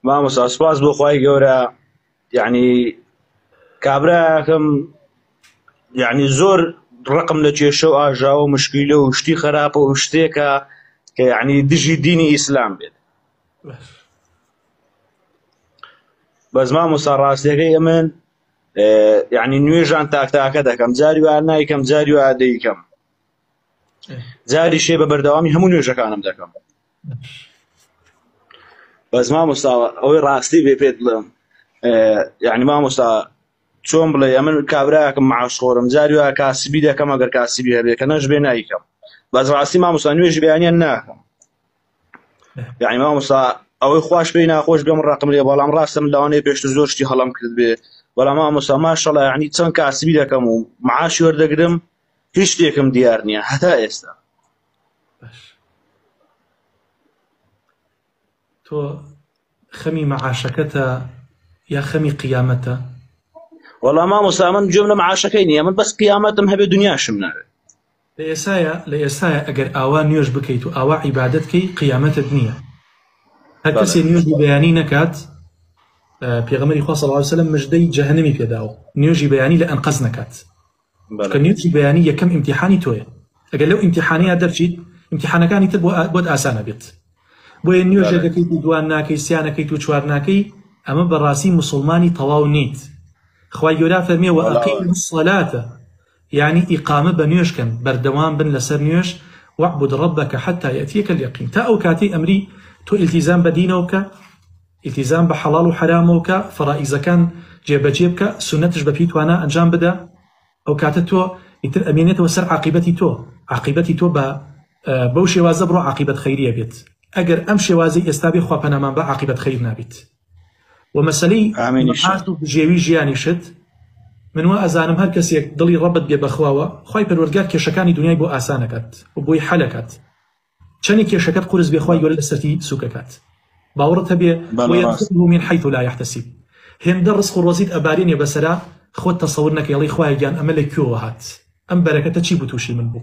مامۆستا سپاس بۆ خی گەورە یعنی کابراکەم یعنی زۆر ڕقم لە کێشە و ئاژاوە مشکیلە و شتی خراپە و شتێکە کە یعنی دژی دینی ئیسلام بێت بەس مامۆستا ڕاستەکەی ئەمن یعنی نوێژان تاکتاکە دەکەم جاری وا نایکەم جاری وا دەیکەم جاری شێ بە بەردەوامی هەموو نوێژەکانم دەکەم بەس مامۆستا ئەوەی ڕاستی بێ پێت بڵێم یعنی مامۆستا چۆن بڵێ ئەمن کابراکەم معاش خۆرم جاری وایە کاسبی دەکەم ئەگەر کاسبی هەبێ کە نەش بێ نایکەم بەس ڕاستی مامۆستا نوێژی بەیانیان ناکەم یعنی مامۆستا ئەوەی خوش پێی ناخۆش بێم ڕقم لێ بەڵام ڕاستم لەوانەیە پێشتر زۆر شتی هەڵم کرد بێ بەڵام مامۆستا ماشەڵە یعنی چەند کاسبی دەکەم و معاش وەردەگرم هیچ شتێکم دیار نییە هەتا ئێستا باش تۆ خەمی مەعاشەکەتە یا خەمی قیامەتە وەڵام مامۆستا من جۆم لە مەعاشەکەی نییە من بەس قیامەتم هەبێ دنیاشم ناوێت لە ئێسایە لە ئێسایە ئەگەر ئاوا نوێش بکەیت و ئاوا عیبادەتکەی قیامەتت نییە هەر کەسێ نوێژ بەیانی نەکات پێغەمەری خوا سەڵ سەلم مژدەی جەهنمی پێداوە نوێژی بەیانی لە ئەنقەز نەکات چونکە نیوتری بەیانی یەکەم ئیمتیحانی تۆیە ئەگەر لەو ئیمتیحانەیا دەرچیت ئیمتیحانەکانی تر بۆت ئاسان ئەبێت بۆیە نوێژ دەکەیت و دوان ناکەی سیان ئەکەیت و چوار ناکەی ئەمە بەڕاستی موسڵمانی تەواو نیت خوای گەورە فەرمێ وە ئەقیم الصلاتە یعنی ئیقامە بە نوێژ کەن بەردەوام بن لەسەر نوێژ واعبد ربك حتى يأتيك اليقين تا ئەو کاتەی ئەمری تۆ التزام بە دینەوە بکە ئیلتیزام بە حەڵاڵ و حەرامەوە بکە، فەرائیزەکان جێ بەجێ بکە، سوننەتش بەپێی توانا ئەنجام بدە، ئەوکاتە تۆ ئیتر ئەمێنێتەوە سەر عاقیبەتی تۆ، عاقیبەتی تۆ بە بەو شێوازە بڕۆ عاقیبەت خەیری ئەبێت، ئەگەر ئەم شێوازەی ئێستا بێ خوا پەنامان با عاقیبەت خەیر نابیت. وە مەسەلەی مەعاش و بژێوی ژیانیشت من وا ئەزانم هەر کەسێک دڵی ڕەبت بێ بەخواوە خوای پەروەردگار کێشەکانی دونیای بۆ ئاسان ئەکات و بۆی حەل ئەکات، چەنێ کێشەکەت قورس بێ خوای گەورە لەسەرتی سوک ئەکات باوەڕت هەبێ ویرزقه من حیث لا یحتسب هێندە ڕزق و ڕۆزیت ئەبارێنێ بەسەرا خۆت تەسەور نەکەی ئەڵێی خوایە گیان ئەمە لە کوێوە هات ئەم بەرەکەتە چی بوو توشی من بوو